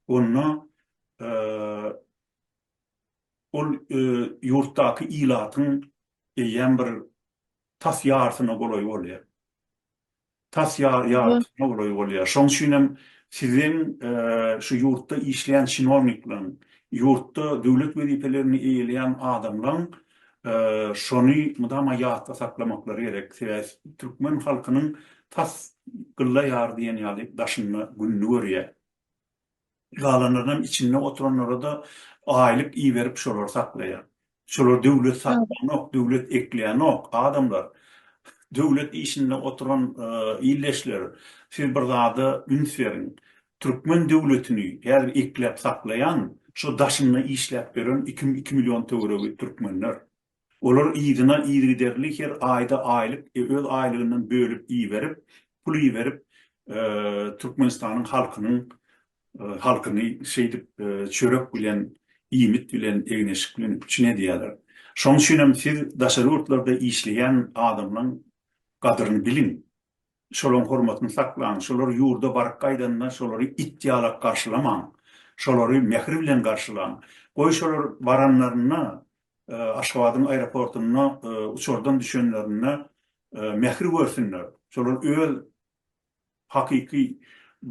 onda Ol ýurtdaky ilatyň eýýäm bir tas ýarysyna golaý bolýar. Tas ýarysyna golaý bolýar. Şonuň üçin hem siziň şu ýurtda işleýän çinownikleriň, ýurtda döwlet wezipelerini eýeleýän adamlaryň şony mydama ýatda saklamaklary gerek. Sebäbi türkmen halkynyň tas gylla ýar diýen ýaly daşynda gününi görýär. galanlarynam içinde oturanlarada aýlyk iberip şolary saklaýar. Şolar döwlet satýanok, döwlet ekleýänok, adamlar döwlet işinde oturan ildeşler siz bir zada üns beriň, türkmen döwletini häzir ekläp saklaýan şo daşynda işläp ýören iki iki million töweregi türkmenler. Olar yzyna yzygiderli her aýda aýlyk öz aýlygyndan bölüp iberip, pul iberip Türkmenistanyň halkynyň halkyny şeýdip çörek bilen, iýmit bilen, egin-eşik bilen üpjün edýärler. Şoň üçinem siz daşary ýurtlarda işleýän adamlaň gadyryny biliň. Şolaň hormatyny saklaň. Şolar ýurda baryp gaýdanda şolary it ýalak garşylamaň. Şolary mähir bilen garşylaň. Goý şolar baranlarynda Aşgabadyň aeroportunda uçardan düşenlerinde mähir görsünler, şolar öz hakyky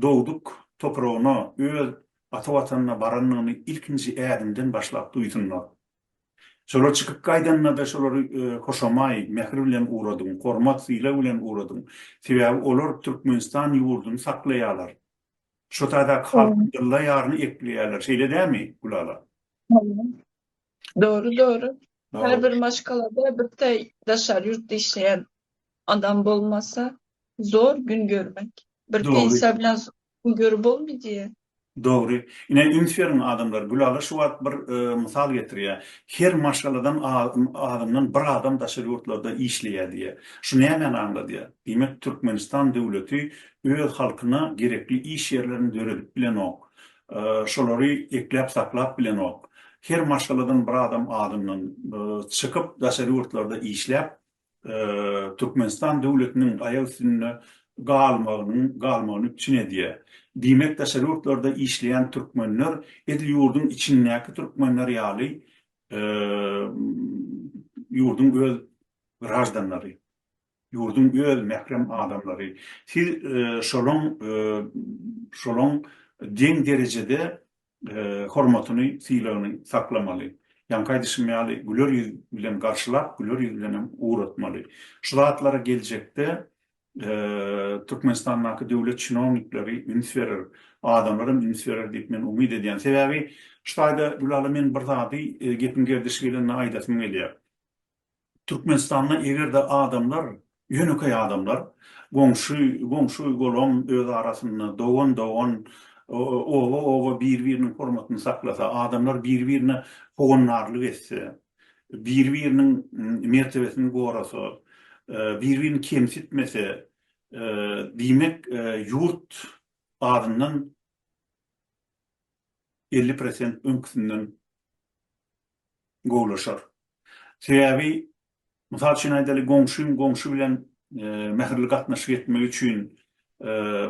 dogduk topragyna, öz ata Watanyna barandygyny ilkinji ädimden başlap duýsunlar. Şolar çykyp gaýdanda-da şolary hoşamaý, mähir bilen ugradyň, hormat-sylag bilen ugradyň. Sebäbi olar Türkmenistan ýurduny saklaýarlar. Şu taýdaky halkyň ylla ýaryny ekleýärler. Şeýle dälmi, Gülala? Dogry dogry. Her bir maşgalada bir de daşary ýurtda işleýän adam bolmasa zor gün görmek. Bir pensiýa bilen gün görüp bolmaýdy. Dogry. Ine üns beriň adamlar. Gülala şu wagt bir mysal getirýär. Her maşgaladan azyndan bir adam daşary ýurtlarda işleýär diýýär. Şu nämäni aňladýar? Diýmek Türkmenistan döwleti öz halkyna gerekli iş ýerlerini döredip bilenok. Şolary ekläp saklap bilenok. Her maşgaladan bir adam adyndan çykyp daşary ýurtlarda işläp Türkmenistan döwletiniň aýak üstünde galmagynyň galmagyny üpjün edýär. Diýmek daşary ýurtlarda işleýän türkmenler edil ýurduň içindäki türkmenler ýaly ýurduň öz graždanlary. Ýurduň öz mährem adamlary, siz şolaň şolaň deň derejede hormatyny, sylagyny saklamaly. Ýaňky aýdyşym ýaly, güler ýüz bilen garşylap, güler ýüz bilenem ugratmaly. Şu zatlara geljekde Türkmenistandaky döwlet çinownikleri üns berer, adamlaram üns berer diýip men umyt edýän. Sebäbi şu taýda Gülala men bir zady gepiň gerdişi gelende aýdasym gelýär. Türkmenistanda eger-de adamlar, ýönekeý adamlar, goňşy, goňşy-golam öz arasynda, dogan-dogan, oba-oba bir-biriniň hormatyny saklasa, adamlar bir-birine howandarlyk etse, bir-biriniň mertebesini gorasa, bir-birini kemsitmese, diýmek, ýurt azyndan elli prosent öňküsinden gowulaşar. Sebäbi, mysal üçin aýdaly, goňşyň goňşy bilen mähirli gatnaşyk etmegi üçin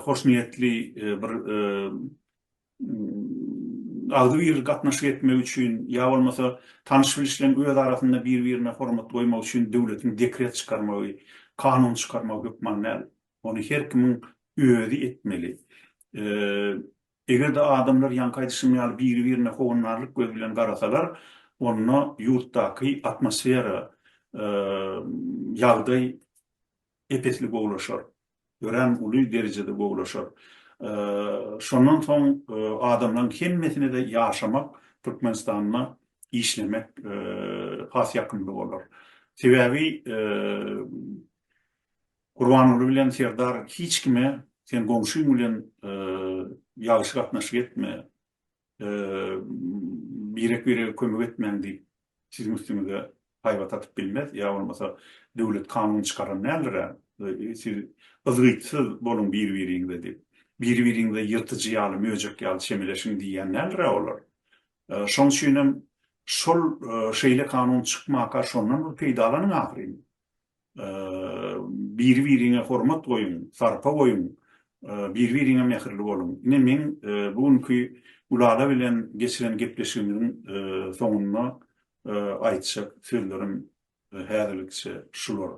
hoşniýetli bir agzybir gatnaşyk etmegi üçin ýa bolmasa tanyş-bilişleň öz arasynda bir-birine hormat goýmagy üçin döwletiň dekret çykarmagy, kanun çykarmagy hökman däl. Ony her kimiň özi etmeli. Eger-de adamlar ýaňky aýdyşym ýaly biri-birine howandarlyk gözi bilen garasalar, onda ýurtdaky atmosfera, ýagdaý ep-esli gowulaşar, örän uly derejede gowulaşar. Şondan soň adamlaryň hemmesine-de ýaşamak, Türkmenistanda işlemek has ýakymly bolar. Sebäbi Gurbanguly bilen Serdar hiç kime sen goňşyň bilen ýagşy gatnaşyk etme, birek birege kömek etmäň diýip siziň üstüňize haýbat atyp bilmez, ýa bolmasa döwlet kanun çykaran däldir-ä, siz yzgytsyz boluň bir biriňize diýip, bir biriňize ýyrtyjy ýaly, möjek ýaly çemeleşiň diýýän däldir-ä olar. Şoň üçinem şol şeýle kanun çykmaka şondan bir peýdalanyň ahyryn. Biri-biriňe hormat goýuň, sarpa goýuň, biri-biriňe mähirli boluň. Ine, meň bu günki Gülala bilen geçiren gepleşigimiziň soňunda aýtjak sözlerim häzirlikçe şular.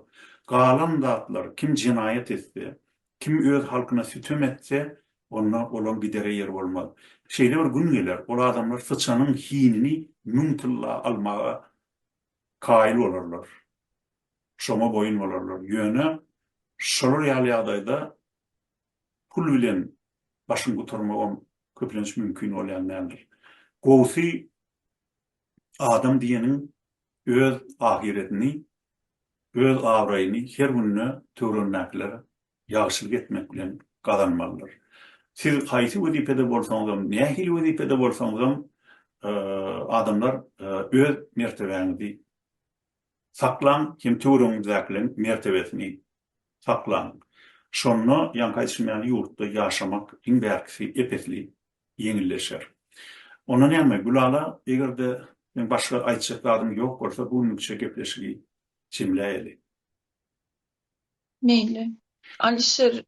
Galan zatlar, kim jenaýat etse, kim öz halkyna sütem etse, onda olaň gidere ýeri bolmaz. Şeýle bir gün geler, ol adamlar syçanyň hinini müň tylla almaga kaýyl bolarlar, şoňa boýun bolarlar. Ýöne şolar ýaly ýagdaýda pul bilen başyň gutarmagam köplenç mümkin bolýan däldir. Gowusy adam diýeniň öz ahyretini, öz abraýyny her günde töweregindäkilere ýagşylyk etmek bilen gazanmalydyr. Siz haýsy wezipede bolsaňyzam, nähili wezipede bolsaňyzam, adamlar öz mertebäňizi saklaň hem töweregiňizdäkileriň mertebesini saklaň. Şonda ýaňky aýdyşym ýaly ýurtda ýaşamak iň bärkisi ep-esli ýeňilleşer. Onda näme, Gülala, eger-de seň başga aýtjak zadyň ýok bolsa, bu günlükçe gepleşigi jemläýeli. Meýli. Alişer,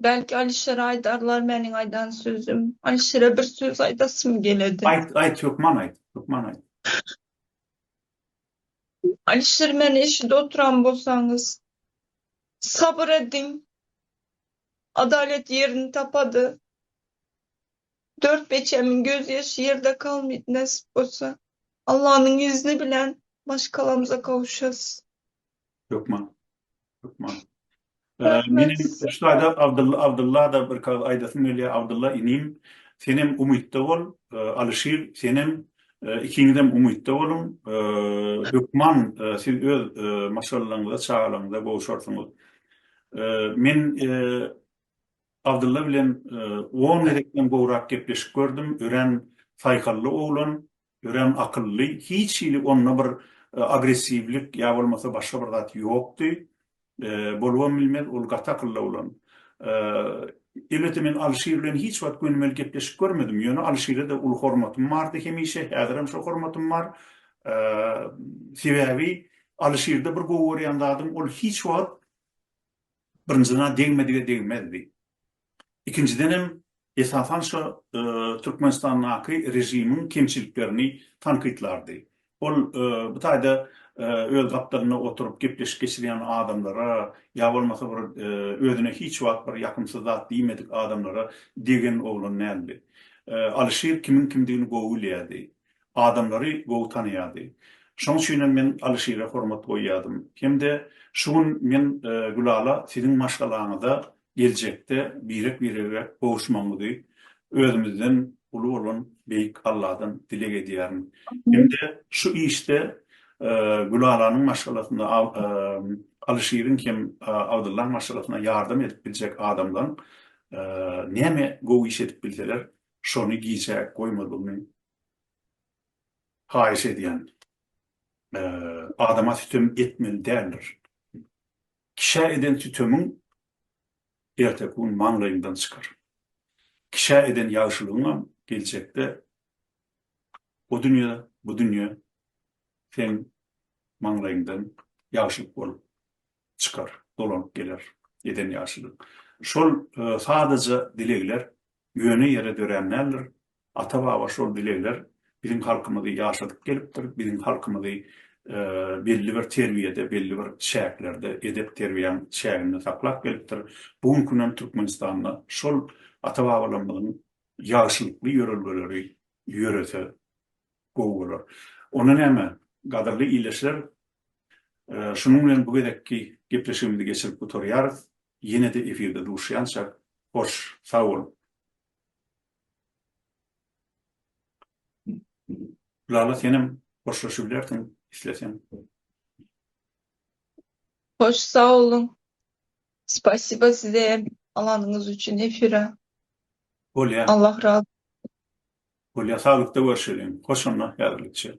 Belki Alişer aýdarlar meniň aýdan sözüm. Alişere bir söz aýdasym geledi. Aýt, aýt, hökman aýt, hökman aýt. Alişer, Meni eşidip oturan bolsaňyz, sabyr ediň. Adalet ýerini tapady. Dört beçemiň gözýaşy ýerde kalmydy, nesip bolsa, Allanyň izni bilen maşgalamyza gowuşarys. Hökman. Hökman. Meniň şaýda Abdylla Abdylla da bir kaz aýdasym gelýär. Abdylla inim, sen hem umytda bol. Alyşir, sen hem ikiňiz hem umytda boluň. Hökman siz öz maşgalalaryňyza, çagalaryňyza gowşarsyňyz. Men Abdylla bilen on gezekden gowrak gepleşip gördüm. Örän saýhally oglan. Örän akylly, hiç hili onda bir agressiwlik ýa bolmasa başga bir zat ýokdy. Bolubam bilmez, ol gaty akylly oglan. Elbetde men Alyşir bilen hiç wagt gönümel gepleşip görmedim, ýöne Alyşire-de uly hormatym bardy hemişe, häzirem şo hormatym bar. Sebäbi Alyşirde bir gowy görýän zadym, ol hiç wagt birinji degmedige degmezdi. Ikinjiden hem, esasan şo Türkmenistandaky režimiň kemçiliklerini tankytlardy. Ol bu taýda öz gapdalynda oturyp gepleşik geçirýän adamlara ýa bolmasa bir özüne hiç wagt bir ýakymsyz zat diýmedik adamlara degen oglan däldi. Alyşir kimiň kimdigini gowy bilýärdi. Adamlary gowy tanaýardy. Şoň üçin hem men Alyşire hormat goýýardym. Hem-de şu gün men Gülala siziň maşgalaňyza geljekde birek-birege gowuşmagyňyzy özümizden uly bolan Beýik Alladan dileg edýärin. Hem-de şu işde Gülalanyň maşgalasynda Alyşiriň hem Abdyllaň maşgalasyna ýardam edip biljek adamlaryň näme gowy iş edip bilseler, şony gijä goýmazlygyny haýyş edýän. Adama sütem etmeli däldir. Kişä eden sütemiň erteki gün maňlaýyňdan çykar. Kişä eden ýagşylygyňam geljekde o dünýe, bu dünýe seň maňlaýyňdan ýagşylyk bolup çykar, dolanyp geler eden ýagşylygyň. Şol sadaja dilegler ýöne ýere dörän däldir, Ata-baba şol dilegler biziň halkymyzy ýaşadyp gelipdir, biziň halkymyzy belli bir terbiýede, belli bir çäklerde, edep-terbiýäň çäginde saklap gelipdir. Bu gün kün hem Türkmenistanda şol ata-babalarymyzyň ýagşylykly ýörelgeleri ýörese gowy bolar. Onda näme, gadyrly ildeşler, şunuň bilen bu gezekki gepleşigimizi geçirip gutarýarys. Ýene-de efirde duşýançak, hoş, sag boluň! Lala senem hoşlaşybilersiň isleseň. Hoş sagboluň. Spasiba size hem alanyňyz üçin efire. Bolýa. Allah razy. Bolýa saglykda görşeliň. Hoş onda häzirlikçe.